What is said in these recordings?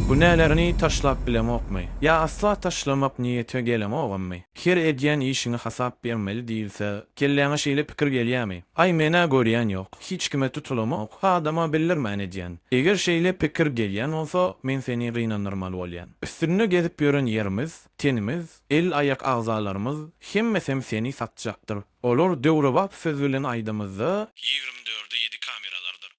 Günälerini taşlap bilemokmy? Ýa asla taşlamak niýete geleňogammy? Her edýän işiňe hasap bermeli diýilse, kelläňe şeýle pikir gelýämi? Aý, men-ä görýän ýok, hiç kime tutulamok, adama bildirmän edýän. Eger şeýle pikir gelýän bolsa, men seni gynandyrmaly bolýan. Üstünde gezip ýören ýerimiz, tenimiz, el-aýak agzalarymyz, hemmesem seni satjakdyr. Olar döwrebap söz bilen aýdamyzda, ýigrimi dörde ýedi kameralardyr.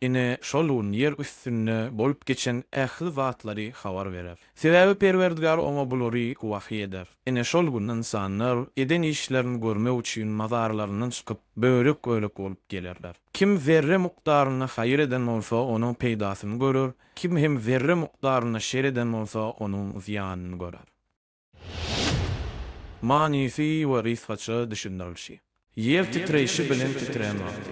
Ine, şol gün ýer üstünde bolup geçen ähli zatlary habar berer. Sebäbi Perwerdigär oňa bulary wahyý eder. Ine, şol gün ynsanlar eden işlerini görmek üçin mazarlaryndan çykyp, bölek-bölek bolup gelerler. Kim zerre mukdarynda haýyr eden bolsa, onuň peýdasyny görer, kim hem zerre mukdarynda şer eden bolsa, onuň zyýanyny görer. Manysy we rysgaça düşündirilişi. Ýer titreýşi bilen titrän wagty.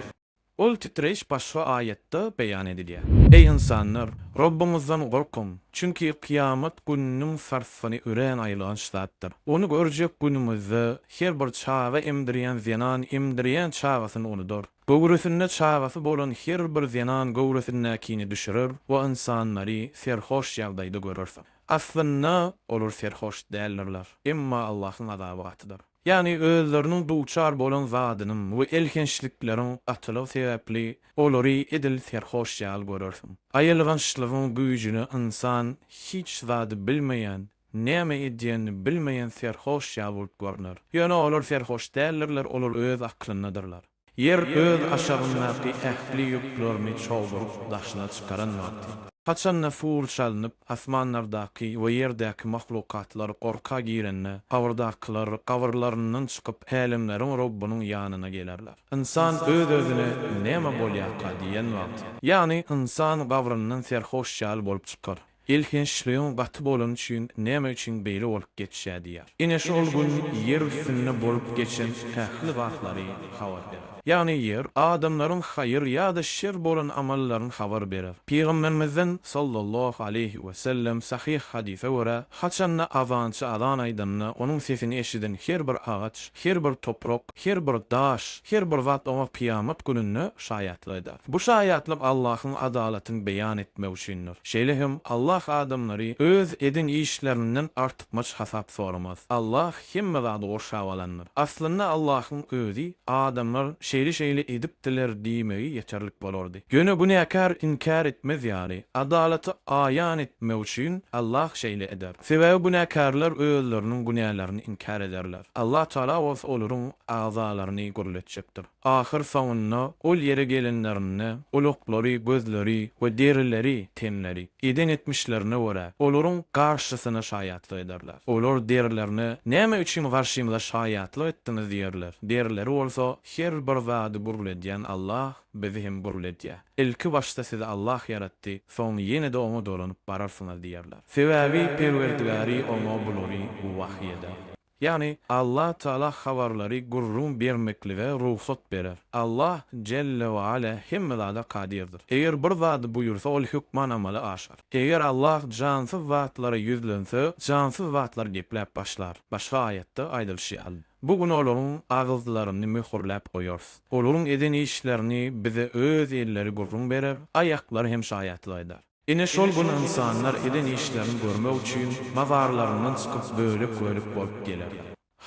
Ol titreýiş başga aýatda beýan edilýär. Eý ynsanlar! Robbyňyzdan gorkuň! Çünki kyýamat gününiň sarsgyny örän aýylganç zatdyr. Ony görjek günüňizde, her bir çaga emdirýän zenan emdirýän çagasyny unudar. Göwresinde çagasy bolan her bir zenan göwresindäkini düşürer we ynsanlary serhoş ýagdaýda görersiň. Aslynda olar serhoş däldirler, emma Allahyň azaby gatydyr. Ýagny özleriniň duçar bolan zadynyň we elhençlikleriň gatylygy sebäpli olary edil serhoş ýaly görersiň. Aýylgançlygyň güýjüne ynsan hiç zady bilmeýän, näme edýänini bilmeýän serhoş ýaly bolup görner. Ýöne olar serhoş däldirler, olar öz aklyndadyrlar. Ýer öz aşagyndaky ähli ýüklerini çogduryp daşyna çykaran wagty. Haçanda suw çalnyp, asmanlardaky we ýerdäki mahlukatlar gorka girende, gabyrdakylar gabyrlaryndan çykyp, Älemleriň Robbunyň ýanyna gelerler. Ynsan öz-özüne, Näme bolýarka? diýen wagty. Ýagny, ynsan gabryndan serhoş ýaly bolup çykar. Elhençligiň gaty bolany üçin näme üçin beýle bolup geçýär diýýär. Ine şol gün ýer üstünde bolup geçen ähli zatlary habar berer. Ýagny ýer, adamlaryň haýyr ýa-da şer bolan amallaryny habar berer. Pygamberimizden, sallallahu aleýhi we sellem, sahyh hadysa görä, haçanda azançy azan aýdanda, onuň sesini eşiden her bir agaç, Her bir toprak, her bir daş, her bir zat oňa kyýamat gününde şaýatlyk eder. Bu şaýatlyk Allahyň adalatyny beýan etmek üçindir. Şeýle hem Allah adamlary öz eden işlerinden artykmaç hasap soramaz. Allah hemme zady gurşap alandyr. Aslynda Allahyň özi adamlar şeýle-şeýle edipdiler diýmegi ýeterlik bolardy. Ýöne günäkär inkär etmez ýaly, adalaty aýan etmek üçin Allah şeýle eder. Sebäbi günäkärler özleriniň günälerini inkär ederler. Allah Tagala bolsa olaryň agzalaryny gürletjekdir. Ahyrsoňunda ol ýere gelenlerinde, ulaklary, gözleri we derileri, tenleri, eden etmişlerine görä, olaryň garşysyna şaýatlyk ederler. Olar derilerine, Näme üçin garşymyza şaýatlyk etdiňiz? diýerler. Derileri bolsa, Her bir zady gürledýän Allah. bizi hem gul edýä. Ilki başda sizi Allah ýaratdy, soň ýene-de oňa dolanyp bararsyňyz diýerler. Sebäbi Perwerdigary oňa bulary wahyý eder. Ýagny, Allah Taala habarlary gürrüň bermeklige rugsat berer. Allah Jelle we Ala hemme zada kadirdir. Eger bir zady buýursa ol hökman amala aşar. Eger Allah jansyz zatlara ýüzlense, jansyz zatlar gepläp başlar. Başga aýatda aýdylyşy ýaly. Bu gün olaryň agyzlaryny möhürläp goýarys. Olaryň eden işlerini bize öz elleri gürrüň berer, aýaklary hem şaýatlyk eder. Ine, şol gün ynsanlar eden işlerini görmek üçin mazarlaryndan çykyp, bölek-bölek bolup geler.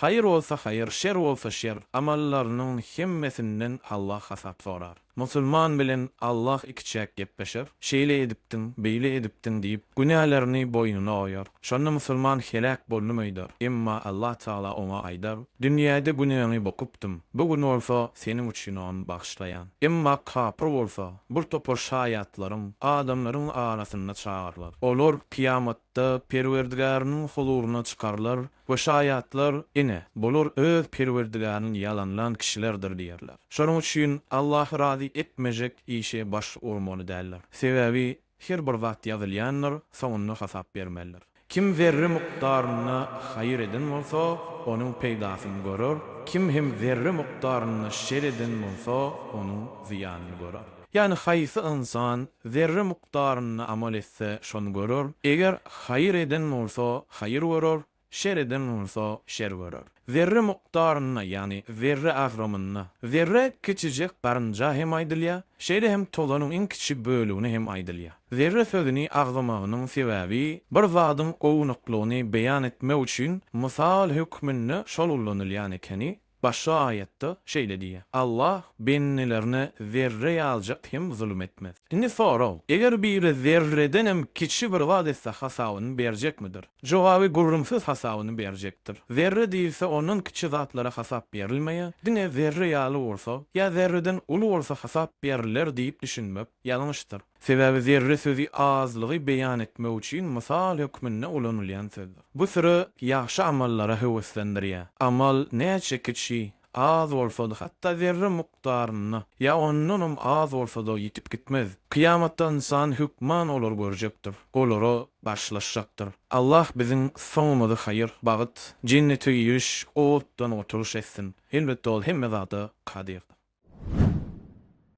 Haýyr bolsa haýyr, şer bolsa şer, amallarynyň hemmesinden Allah hasap sorar. Musulman bilen Allah ikiçäk gepleşer, şeýle edipdiň, beýle edipdiň diýip, günälerini boýnuna oýar. Şonda musulman heläk boldum öýder. Emma Allah Tagala oňa aýdar, Dünýäde günäňi bokupdym, bu gün bolsa seniň üçin ony bagyşlaýan. Emma kapyr bolsa, bir topar şaýatlaryň, adamlaryň arasyna çagyrylar. Olar kyýamatda Perwerdigäriniň huzuryna çykarylar Bu şaýatlar, ine, bular öz Perwerdigärini ýalanlan kişilerdir diýerler. Şonuň üçin Allahy razy etmejek işe baş urmaly däldir. Sebäbi her bir zat ýazylýandyr, soňunda hasap bermelidir. Kim zerre mukdarynda haýyr eden bolsa, onuň peýdasyny görer, kim hem zerre mukdarynda şer eden bolsa, onuň zyýanyny görer. Ýagny haýsy ynsan zerre hukdaryna amal etse, şony görer, eger haýyr eden bolsa, haýyr görer, şer eden bolsa, şer görer. Zerre mukdaryna, ýagny zerre agramyna, zerre kiçijek garynja hem aýdylýar, şeýle hem tozanyň iň kiçi bölegine hem aýdylýar. Zerre sözüni agzamagynyň sebäbi, bir zadyň ownuklygyny beýan etmek üçin mysal hökmünde şol ulanylýan ekeni, Başga aýatda şeýle diýýär, Allah bendelerine zerre ýaljak hem zulum etmez. Indi sorag, eger biri zerreden hem kiçi bir zat etse hasabyny berjekmidir? Jogaby gürrüňsiz hasabyny berjekdir. Zerre diýilse ondan kiçi zatlara hasap berilmeýär, diňe zerre ýaly bolsa ýa zerreden uly bolsa hasap beriler diýip düşünmek ýalňyşdyr. Sebäbi zerre sözi azlygy beýan etmek üçin mysal hökmünde ulanylýan sözdür. Bu süre ýagşy amallara höweslendirýär. Amal näçe kiçi, az bolsa-da, hatda zerre mukdarynda ýa ondanam az bolsa-da ýitip gitmez. Kyýamatda ynsan hökman olary görjekdir, olara garşylaşjakdyr. Allah biziň soňumyzy haýyr, bagt, jennete giriş, otdan gutulyş etsin. Elbetde, Ol hemme zada kadirdir.